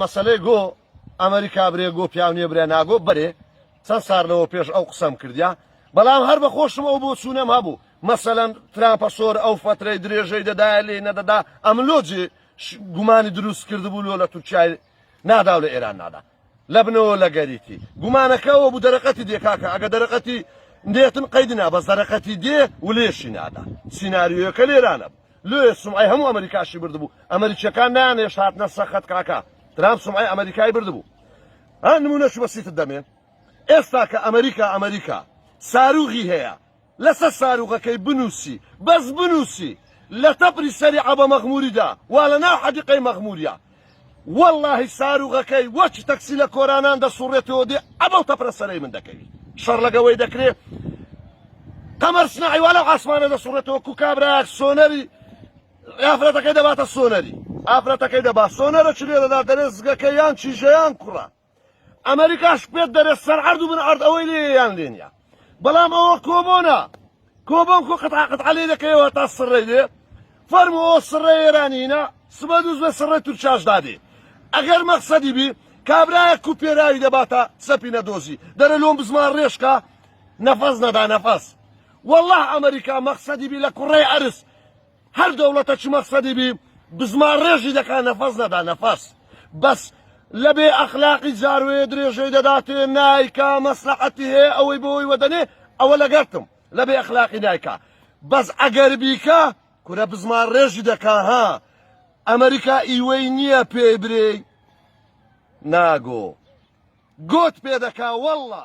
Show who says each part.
Speaker 1: مەسەلەی گۆ ئەمریکا برێ گۆ پیاو نیە برێ ناگۆ بەرێ چەند سار لەوە پێش ئەو قسەم کردیا بەڵام هەر بە خۆشم ئەو بۆ چوونەم هەبوو مەسەەن ترامپە سۆر ئەو فترەی درێژەی دەدایە لێ نەدەدا ئەملۆجی گومانی دروست کرد بوو لۆ لە تورکای نادا و لە ئێران نادا لەبنەوە لەگەریتی گومانەکە ئەوەبوو دەرەقەتی دێ کاکە ئەگە دەرەقەتی نێتن قەیدی نا بەس دەرەقەتی دێ و لێشی نادا سیناریۆیەکە لێرانە بوو لۆیە سومعی هەموو ئەمریکاشی بردبوو ئەمریکیەکان نانێشت هاتنە سەخت کاکە ترامپ سومعی ئەمریکای بردبوو ها نمونەش بەسیتت دەمێ ئێستا کە ئەمریکا ئەمریکا ساروغی هەیە لەسەر ساروغەکەی بنووسی بەس بنووسی لە تەپری سەری عەبە مەغموری دا وا لە ناو حەدیقەی مەغموریا وەڵاهی ساروغەکەی وەکی تەکسی لە کۆرانان دەسوڕێتەوە دێ عەبە و تەپرە سەرەی من دەکەوی شەڕ لەگەوەی دەکرێ قەمەر سناعی وا لەو عاسمانە دەسوڕێتەوە کو کابراک سۆنەری ئافرەتەکەی دەباتە سۆنەری ئافرەتەکەی دەبا سۆنەرە چ لێ دەدا دەرێ زگەکە یان چیژەیان کوڕە ئەمەریکاش پێت دەرێت سەر عرض و من عرض ئەوەی لێ یان لێ نیە بەڵام ئەوە کۆبۆنە کۆبۆن کۆ قەت عقد عەلێ دەکەیەوە تا سڕێ دێ فەرمو ئەو سڕێ ئێرانینە سبە دووز بە سڕێ تورکیاش دادێ ئەگەر مەقسەدی بی کابرایە کو پێراوی دەباتە سەپینە دۆزی دەرە لۆم بزمان ڕێشکە نەفەس نەدا نەفەس والله ئەمریکا مەقسەدی بی لە کوڕی عرس هەر دەوڵەتە چ مەقسەدی بی بزمان ڕێژی دەکا نەفەس نەدا نەفەس بەس لە بێ ئەخلاقی جاروێ درێژەی دەداتێ نایکا مەسلەحەتی هەیە ئەوەی بۆی وەدەنێ ئەوە لەگەرتم لە بێ ئەخلاقی نایکا بەس ئەگەر بیکا کورە بزمان ڕێژی دەکا ها ئەمریکا ئیوەی نییە پێی برێی ناگۆ گۆت پێ دەکا واللە